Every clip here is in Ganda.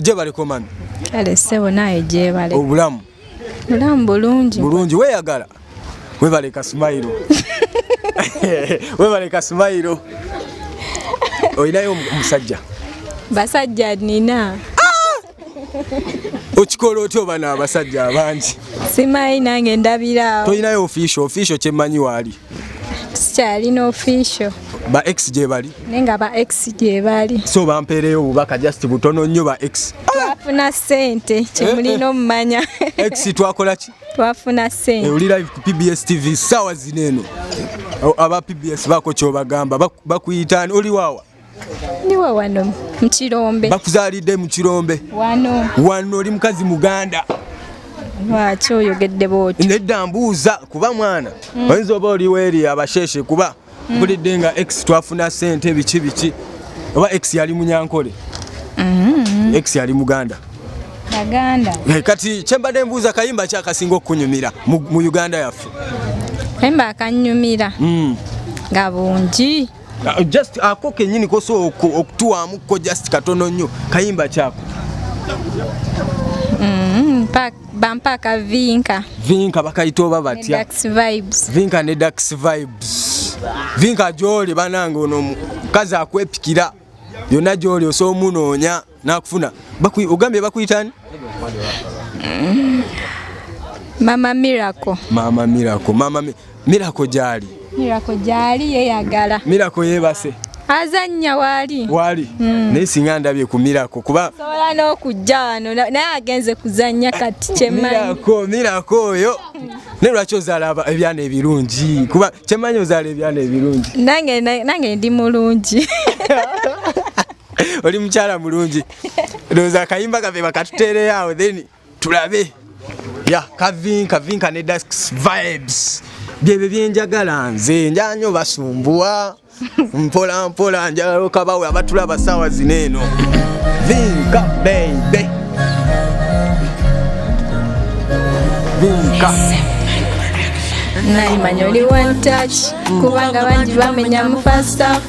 jebale komami kale sebo naye jebale obulamu obulamu bulungi bulungi weyagala webale kasumayiro webale kasumayiro olinayo omusajja basajja nina ah! okikola otya oba naabasajja abangi simanyi nange ndabiraawo tolinayo ofiisho ofiisho kyemmanyi waali sikyalina official ba ex gyebali naye nga ba ex gyebali so bampeereyo obubaka just butono nnyo ba ex twafuna sente kyemulina eh, eh. omumanya ex twakola ki twafuna sente eh, oli live ku pbs tv sawa zino eno aba pbs bako kyobagamba bakuyitaani oli waawa Niwe wano mu Kirombe. Bakuzaalidde mu Kirombe. Wano. Wano oli mukazi Muganda. Lwaki oyogedde bw'otyo? Nedda mbuuza kuba mwana mm. oyinza oba oli weeri abasheshe kuba mm. mpulidde nga ex twafuna ssente biki biki oba ex yali munyankole mm-hmm. ex yali muganda baganda eh, kati kyembadde mbuuza kayimba kyakasinga okukunyumira mu uganda yaffe kayimba akanyumira mm. nga bungi uh, just ako uh, kenyini koso okutuwamu ko just katono nnyo kayimba kyako mm, pack bampaka vinka vinka bakayita oba batya vinka ne dax vibes vinka gyoli banange ono omukazi akwepikira yonna gyoli osoomunoonya nakufuna bakuyi ogambye bakuyitani mm. mama miracle mama miracle mama mi miracle jali miracle jali yeyagala miracle yebase azanya wali wali mm. naye singa ndabye ku miracle kuba sobola n'okujja wano naye agenze kuzanya kati kyemanyi miracle miracle oyo naye lwaki ozaala ebyana ebirungi kuba kyemanyi ozaala ebyana ebirungi nange nange ndi mulungi oli mukyala mulungi ndowooza akayimba kafe bakatuteereyo awo then tulabe ya kavin kavin kane dasks vibes byebyo byenjagala nze njanyo basumbuwa mpola mpola njagala okabawe abatula abasawa zino eno vinka beibe vinka nayimanya oli one touch kubanga bangi bamenya mu first half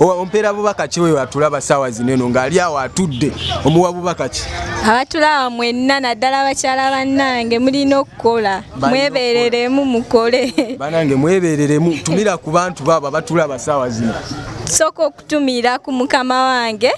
ompeera bubaka ki oyo atulaba saawa zino eno ng'ali awo atudde omuwa bubaka ki abatulaba mwenna naddala abakyala bannange mulina okukola mwebereremu mukole banange mwebereremu tumira ku bantu baabo abatulaba saawa zino sooka okutumira ku mukama wange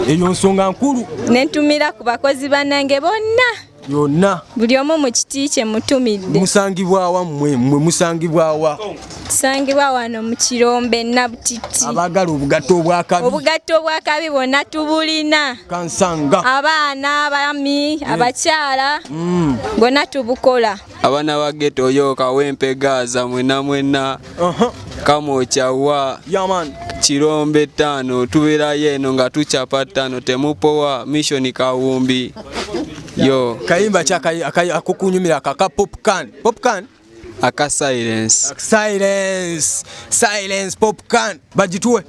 eyo nsonga nkulu nentumira ku bakozi bannange bonna yonna buli omu mu kiti kye mutumidde musangibwawa mmwe mmwe musangibwawa tusangibwa wano mu kirombe nabutiti abaagala obugatto obwakabi obugatto obwakabi bwonna tubulina kansanga abaana abami mm. abakyala mm. bwonna tubukola abana ba geto yo kawempe gaza mwena mwena kamwokya wa kirombe ttaano tubeerayo eno nga tucapa ttaano temupowa mishoni kawumbi yo kayimba akukunyumira akaka popcan popcan aka silence silence silence popcan bagituwe